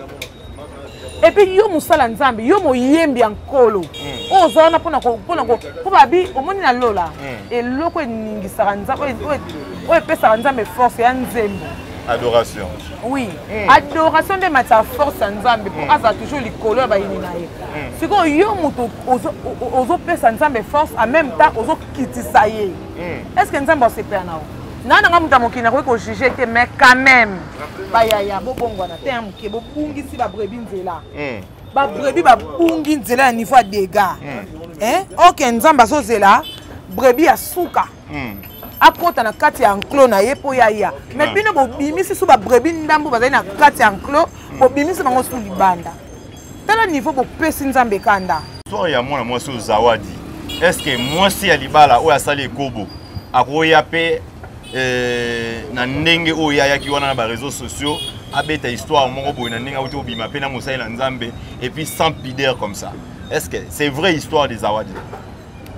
epuis yo mosala nzambe yo moyembi ya nkolo hmm. oyo oza wana mpona mpo babi omoni na lola hmm. eloko eningisaka nzambe oyo epesaka nzambe force ya nzembo adoration oui mm. adoration nde matisa force ya nzambe mpo mm. azala toujours likolo ya bayini na ye mm. sikoyo yo moto ozopesa nzambe force en même temps ozokitisa ye mm. est ce que nzambe asepela na yo nga nanga moto ya mokili nakoki kojuge te mais quand même bayaya bobongwana te ya moke bobungisi babrebi nzela hmm. babrebi babungi nzela ya niveau ya dega hmm. eh, oke nzambe azozela brebi ya suka hmm. akota na kati ya enclos na ye mpo ya ya mais bino bobimisi so babrebi ndambo bazali na kati ya enclos bobimisi bango so libanda tala niveau bopesi nzambe kanda histoire ya mwana mwasi oyo zawadi estce mwasi ya libala oyo asali ekobo akoya mpe eh, na ndenge oyo ye ayaki wana na bareseau sociaux abeta histoire moko boye na ndenge auti kobima mpe na mosali na nzambe epuis sans pider comme ça est ce que c'est vrai histoire de zawadi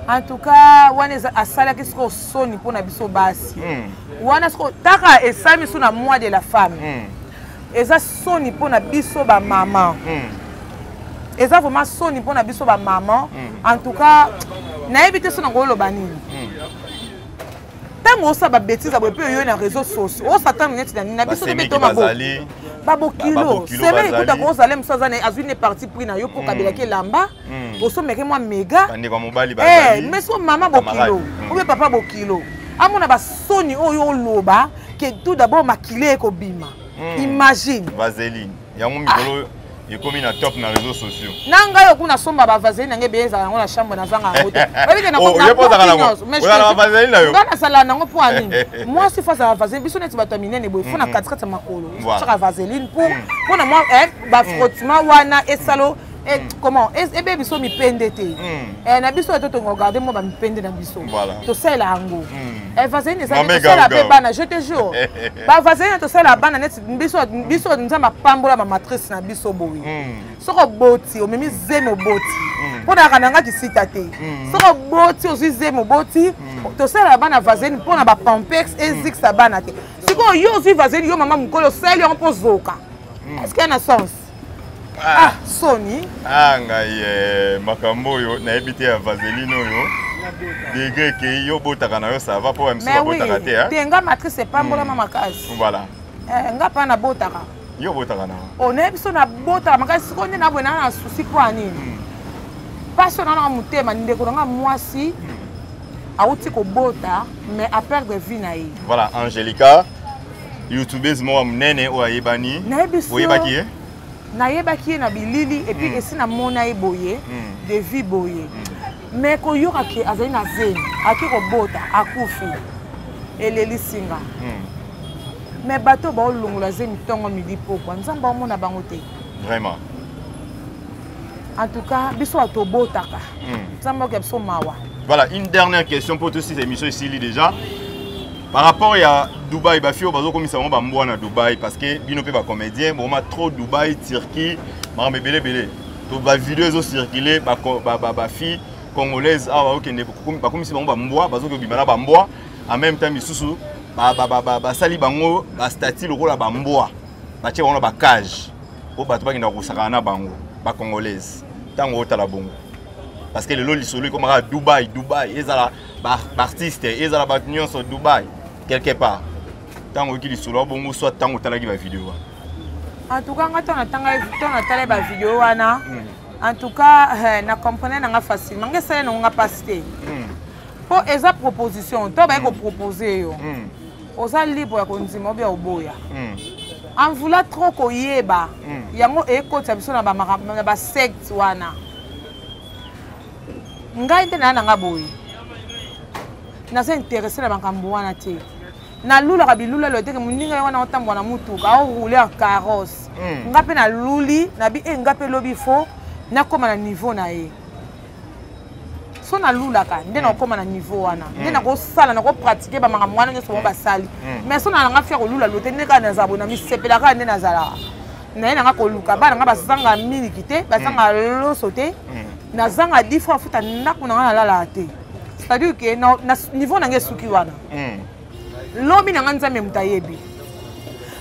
en tout cas wana asalaki sikoyo soni mpo na biso basi hmm. wana sikoyo taka esami so na mois de la femme hmm. eza soni mpo na biso bamama mm. eza vraiment soni mpo na biso bamama mm. en tout cas nayebi te so nakoloba nini mm. ntango osala babetise boye mpe oyoyi na réseau socio osatana neti na nini na biso tobe tomabo babokilo seme ekuta kozala mosu aza azwi ne parti pris na yo mpo kabelaki elamba osomeke mwa mega mais so mama bokilo obe papa bokilo amona basoni oyo oloba que tout d'abord makile ekobima hmm. imagine vaseline yango mikolo ah. ekomi na top na réseaux sociaux na ngai oku nasomba bavaseline nange beye ezala yango na chambre nazanga yango te nga nazala nango mpo ya nini mwasi fo azala vaseline biso neti bato ya minene boye fo na katikati ya makolo saka vaseline mpo hmm. na mwa eh, bafrottement hmm. wana esalo mm. Eh, mm. comment ebe eh, biso mipende te mm. eh, na biso eto tokogarde mwa bamipende na biso tosalela yango mm. vaseline ezali tosala mpe bana je te jour bavaseline tosala bana neti biso nzambe apambola bamatrice na biso boye soki oboti omemi zemi oboti mpo nayaka na nga kisita te soki oboti ozwi zemi oboti tosala bana vaseline mpo na bapampex ezikisa bana te sikoyo yo ozwi vaseline yo mama mokolo osali yango mpo ozoka est ce que na sens ah soni ah ngai eh, makambo oyo nayebi te ya vaseline oyo degre ekei yo obotaka na yo sava mpo ya misusu babotaka te eh? te nga matrice epambolama hmm. makasi voilà eh, nga mpa nabotaka yo obotaka na onaye biso nabotaka makasi sikoyo nde nabwe naa na susi mpo ya nini hmm. mpasi oyo nanaka motema ndeko na nga mwasi hmm. awuti kobota mais aperdre vie na ye voilà angelica youtubeuse moko ya monene oyo ayebani oyebaki ye nayebaki ye na bilili epuis mm. esi namona ye boye mm. de vie boye mm. me koyoka ke azali na zemi ake kobota akufi elelisi nga mm. me bato baolongola zemi ntongo midi pokwa nzambe aomona bango te vraiment en tout cas biso bato tobotaka hmm. nzambe okoya biso mawa voilà une dernière question mpo tosi émission esili déjà par rapport ya dubai bafi oyo bazokomisa bango bambwa na dubai parce que bino mpe bacomédien boma trop dubai turquie makambo ebele ebele to bavideo ezocircule bafi congolaise awa okende bakomisi bango bambwa bazoki obima na bambwa en même temps misusu basali bango bastati lokola bambwa batie bango na bacage mpo bato bakenda kosakana na bango bacongolaise ntango otala bongo parce que lelo lisolo ekomaka dubai dubai ezala baartiste ezala bato nyonso dubai quelque part ntango oyoki lisolo ya bongo soit ntango otalaki bavideo wana en tout cas nga to natala bavideo wana hmm. en tout cas eh, na comprendre nanga facilement nga esali nango nga mpasi te mpo hmm. eza proposition to baye kopropose yo mm. oza libre ya kondima obi ya oboya hmm. en voulant trop koyeba hmm. yango ekotisa biso na basecte wana ngai nde naa na ngai boye naza interesse na makambo wana te nalulaka bilulelo eteke moninga ye wana otambola na motuka aoroule en carrosse hmm. ngai mpe naluli nabi e eh, ngai mpe lobi fo nakóma na niveau na ye so nalulaka nde mm. nakokoma na niveau wana nde mm. nakosala nakopratike bamakambo wana nyonso bango mm. basali mais so nalanga fia kolula lote nde kaka nazala boye namisepelaka nde nazalaka naye nanga koluka bana nga bazanga miliki te bazanga loso te nazanga difra afuta ndako nanga nalalaka te c'est-à-dire ke niveau nanga esuki wana lobi na nga nzambe moto ayebi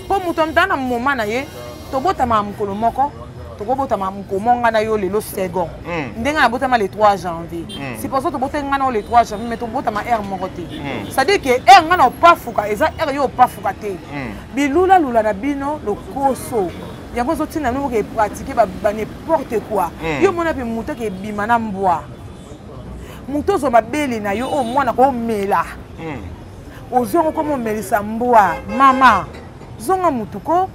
mpo moto amta na moma na ye tobotamaka mokolo moko tokobotama mokoma nga na yo lelo second hmm. ndenge nabotama le 3 janvier hmm. siposo tobotaki nga na yo le 3 janvier mais tobotama heure moko te hmm. cestadire ke heure nga na opafuka eza heure yo opafuka te bilulalula na bino lokoso yango ezotinda nomoke epratike ba n'importe quoi yo omona mpe moto ake ebima na mbwa moto ozwa mabele na yo oyo mwana komela hmm. ozwi yango komomelisa mbwa mama zonga motu ko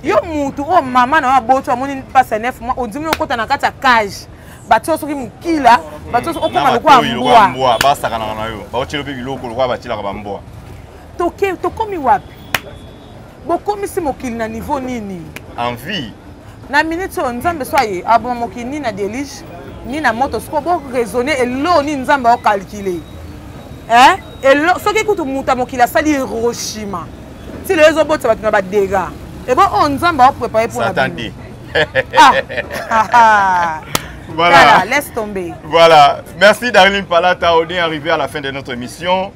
yo motu oyo mama na yo aboti amoni mpasi ya 9 mois ondimi okota na kati ya cage batio soki mokila batio soki okoma lokola mbwa basakanaka na yo baotyelo mpe biloko lokola batyelaka bambwa tokomi wapi bokomisi mokili na niveau nini en vie na minute oyo nzambe so aye aboma mokili nini na delige nini na moto sikoyo boraisonne eloo nini nzambe aokalkile eh? elo soki kutu moto ya mokili asali hiroshima ti lelo ezobotisa bato na badega ebo oyo oh, nzambe aoprepare mpo na bino ah. ah, ah. Voilà. voilà, laisse tomber. Voilà. Merci Darlene Palata. On est arrivé à la fin de notre émission.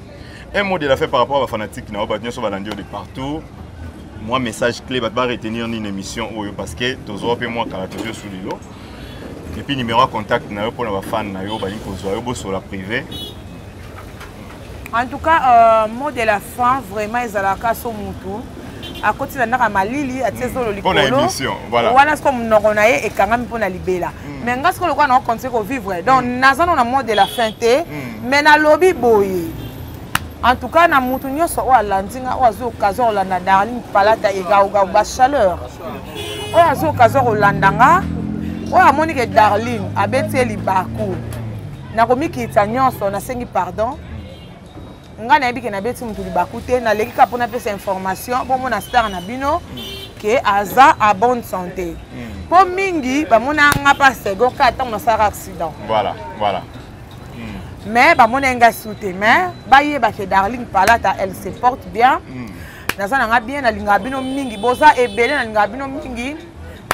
Un mot de la fin par rapport à la fanatique, na ba nyoso balandi de partout. Moi message clé va pas retenir ni une émission oyo parce que tozo pe moi kala tozo sous lilo. Et puis numéro de contact na yo pour na fan na yo ba yiko zo yo bosso la privé. En tout cas, euh, mot de la fin vraiment ezalaka so mutu. akoti na ndako ya malili atie mm. zolo likolo wana siko monoko na ye ekangami mpo na libela mm. mais nga siko lokola nao continue kovivre donc mm. naza no na mode de la fin te mais nalobi boye en tout cas na moto nyonso oyo alandi nga oyo azwi occasion kolanda darling palata egaogao bachaleur oyo azwi occasion kolanda nga oyo amoni ke darling abeti ye libaku nakomikitisa nyonso nasengi pardon ngai nayebi ke nabeti motu libaku te naleki kaka mpo napesa information bomona star na bino ke aza a bonne santé mpo hmm. mingi bamona nga mpa second ka ntango nasalaka accident voilà voilà hmm. mais bamona nga su te mais bayeba ke darling palata elle se porte bien hmm. naza na nga bien nalingaka bino mingi boza ebele nalingaka bino mingi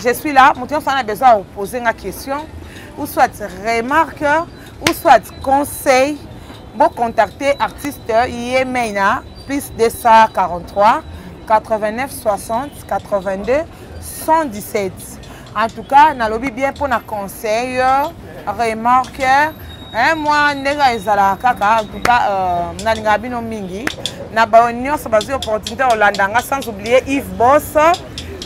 je suis là moto nyonso ana besoin ya opose nga question ou soit remarque ou soit conseil bocontacte artiste yemei na plus 243 89 60 82 117 en tout cas nalobi bien mpona conseil remarque hein, mwa ndenge ezalaka kaka en tout cas euh, nalingaka bino mingi na baoyo nyonso bazwi opportunité kolanda nga sans oublier yves bos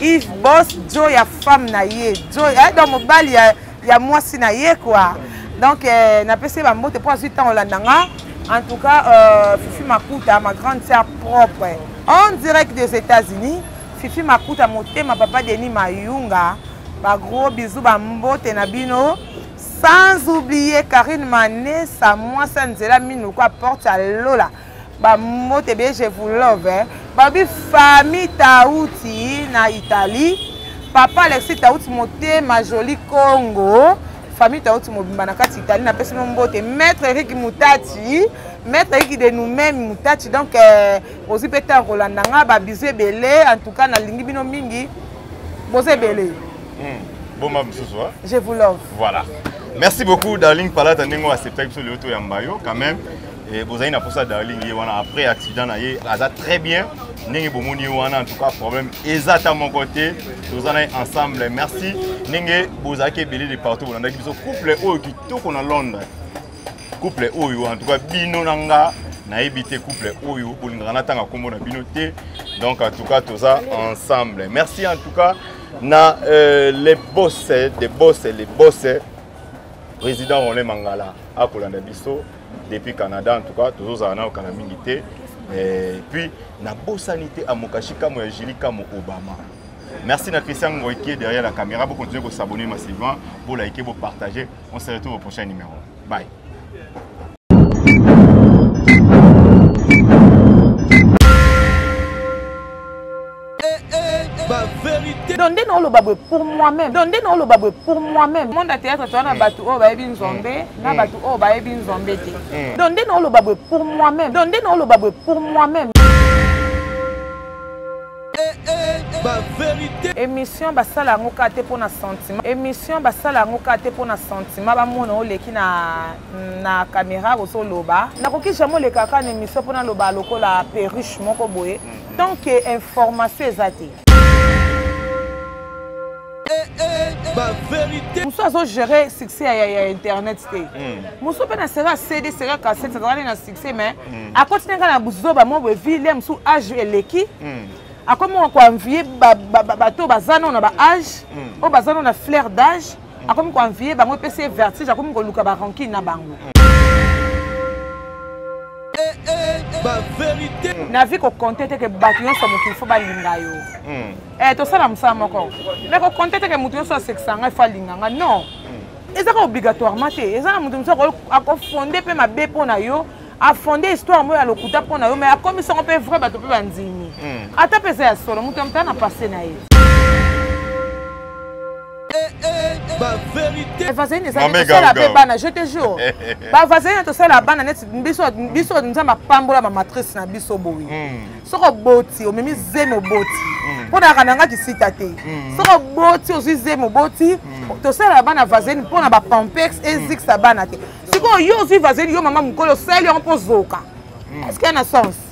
yves bos jo ya femme na ye jo eh, donc mobali ya ya mwasi na ye kua donc eh, napesi ye bambote mpo azwi ntango olanda nga en tout cas euh, fifi makuta ma grande sœur propre en direct des états-unis fifi makuta motema papa denis mayunga bagros bizu bambote na bino sans oublier karine manesa mwasi ya nzela minoko aporte ya lola bambote bie je vous love eh. babi famille tauti na italie papa alexi tauti motema joli congo famille tauti mobimba na kati italie napesi mo mbote maître eriki mutati maître ayiki de nous-même mutachi donc euh, ozwi mpe ntango kolanda nga babizu ebele en tout cas nalingi bino mingi boza ebele hmm, boma mosusu je vous love voilà merci beaucoup darling palata ndenge oacceptaki biso lelo toyamba yo quand même Eh, bozali na posa darling ye wana après accident na ye aza très bien ndenge bomoni ye wana en tout cas problème eza ata moko te toza na ye ensemble merci ndenge bozalaki ebele de partout bolandaki biso couple oyo kitoko na londres couple oyo en tout cas bino na nga nayebi te couple oyo bolingaka natanga nkombo na bino te donc en tout cas toza ensemble merci en tout cas na euh, les boss des boss les boss président roland mangala akolanda biso depuis Canada en tout cas tozo zala na okana mingi te et puis na bosani te amokashi kamo ya Julie kamo Obama Merci à Christian Ngoy qui est derrière la caméra. Vous continuez de vous abonner massivement, vous liker, vous partager. On se retrouve au prochain numéro. Bye. ba vérité donc nde naoloba boye pour moi-même donc nde naoloba boye pour moi-même monde ya théâtre toza na bato oyo bayebi nzombe na bato oyo bayebi nzombe te donc nde naoloba boye pour moi-même donc nde naoloba boye pour moi-même ba vérité émission basala yango kaka te mpo na sentiment émission basala yango kaka te mpo na sentiment bamona oleki na, na caméra ozoloba nakoki jamai olekaka na émission mpo naloba lokola perruche moko boye tant que information eza te mosusu azogere succès ya, ya internet te hmm. mosusu mpe na sera cd sera cassette azalaki na succès mais hmm. akoti nanga na buzoba mwa boye vi lia mosusu age eleki hmm. akomi koanvie bato baza nano na baage oyo baza nano na flair d'age akomi ko envie bango epesi ye vertige akomi koluka ba rancune na bango eh, eh, eh. na vie kokonte te ke bato nyonso mokili fo balinga yo hmm. tosala mosala moko me kokonte te ke moto nyonso asekisa ngai fo alinga ngai non hmm. ezaka obligatoirement te eza na moto mosusu akofonde mpe mabe mpo na yo afonde histoire moko ya lokuta mpo na yo mai akomisi yango mpe vrai bato mpe bandimi hmm. ata mpe eza ya solo moto ya motala na passe na ye bavazalini ezali tosala mpe bana je te jour bavazalini na tosala bana neti biso nzambe apambola bamatrice na biso boye hmm. soki oboti omemi zemi oboti hmm. mpo nayaka na nga kisita te hmm. soki oboti ozwi zemi oboti tosala bana vazalini mpo na bapampex ezikisa bana te sikoyo yo ozwi vazalini yo mama mokolo osali yango mpo ozoka eske na sens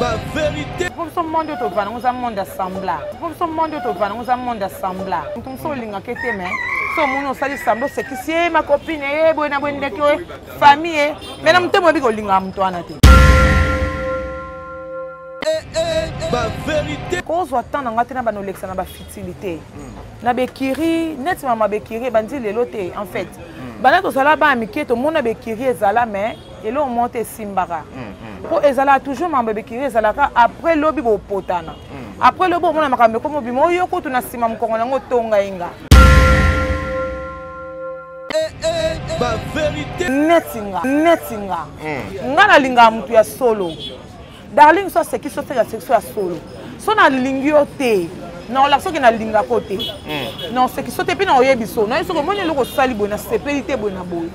ba verité mpo biso monde oyo tovanda ngo eza monde assembla mpo biso monde oyo tovanda ngo eza monde assembla moto mosusu olingaka ete me so omoni osali sambla osekisi ye makopine ye boye na boye ndeki oye famille ye me na motema oyebi kolingaka moto wana te kozwa temps na ngai te na bana olekisa na bafutilité hmm. na bekiri neti mama bekiri ebandi lelo te en fait hmm. bana tozala bana mike tomona bekiri ezala mais eloko moko te esimbaka mpo mm, mm. ezalaka toujours mambo ebikiri ezalaka après lobi bopotana mm. après lobi omona makambo ekomi obima oyo kutu na nsima mokongo na yango otonga ye nga neti nga neti nga nga nalingaka motu ya solo darling so aseki so seka seki so ya solo so nalingi yo te naolaka soki nalingaka yo te hmm. naoseki so te mpe naoyebi so nayebi soki omoni eloko osali boye nasepeli te boye na boye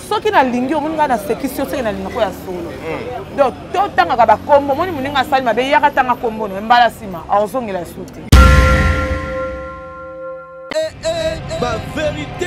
soki nalingi omoni ngai nasekisi yo soki nalingaka ya solo hmm. donc totangaka bakombo omoni moninga asali mabe yaka tanga kombo no mbala nsima aozongela su te eh, eh, eh,